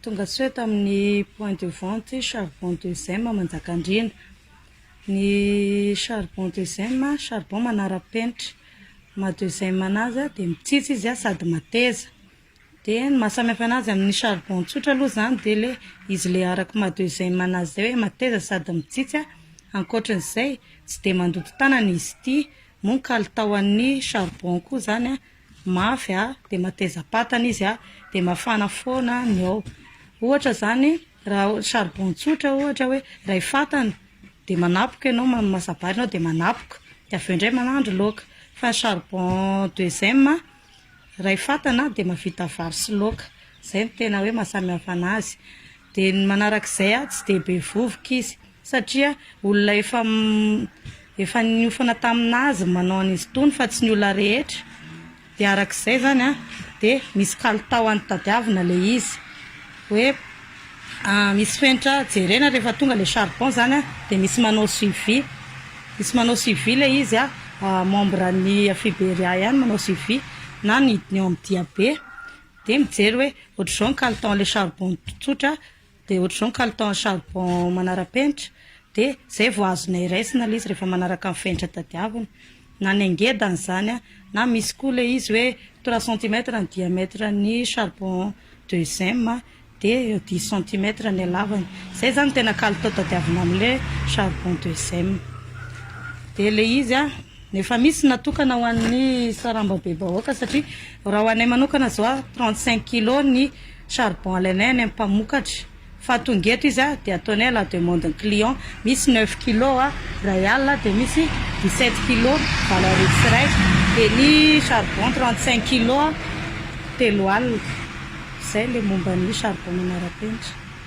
Tongasoa tamin'ny point de vente charbon de zema Manjakandriana. Ny charbon de zema, charbon manara-penitra. Ny maha de zema anazy dia mitsitsy izy sady mateza. Dia ny maha samy hafa anazy amin'ny charbon tsotra aloha izany dia ilay izy ilay araka ny maha de zema anazy izay hoe mateza sady mitsitsy a. Ankoatran'izay, tsy dia mandoto tanana izy ity. Moa ny kalitaon'ny charbon koa izany an. mafy a, dia mateza patana izy a, dia mafana foana ny ao, ohatra izany raha charbon tsotra ohatra hoe iray fatana dia manapoka ianao, mamasabary ianao dia manapoka, dia avy eo indray manandro laoka, fa ny charbon deuxième iray fatana dia mahavita vary sy laoka, izay no tena hoe mahasamy hafa an'azy, dia ny manarak'izay a tsy dia be vovoka izy satria olona efa efa niofana tamin'azy manao an'izy itony fa tsy ny olona rehetra dia arak'izay zany an dia misy kalitao any tadiavina le izy hoe misy fenitra jerena rehefa tonga le charbon zany an dia misy manao suivi misy manao suivi le izy an membre ny Afriberia ihany manao suivi na ny hidiny ao amin'ny diabe dia mijery hoe ohatr'izao ny kalitao an'le charbon tsotra Dia ohatr'izao ny kalitao ny charbon manara-penitra, dia izay vao azonay raisina ilay izy rehefa manaraka ny fenitra tadiavina, na ny angedany izany an, na misy koa ilay izy hoe trois centimètres ny diamètre ny charbon deuxième an, dia dix centimètres ny halavany, izay izany no tena kalitao tadiavina amin'ilay charbon deuxième. Dia ilay izy an, efa misy ny natokana ho an'ny sarambabem-bahoaka satria raha ho anay manokana izao an, trente cinq kilos ny charbon alainay any amin'ny mpamokatra fa tonga eto izy a dia ataonay à la demande ny client misy neuf kilo a iray alina dia misy dix sept kilo valo arivo sy iray dia ny charbon trente cinq kilo a telo alina izay ilay momba ny charbon manara-penitra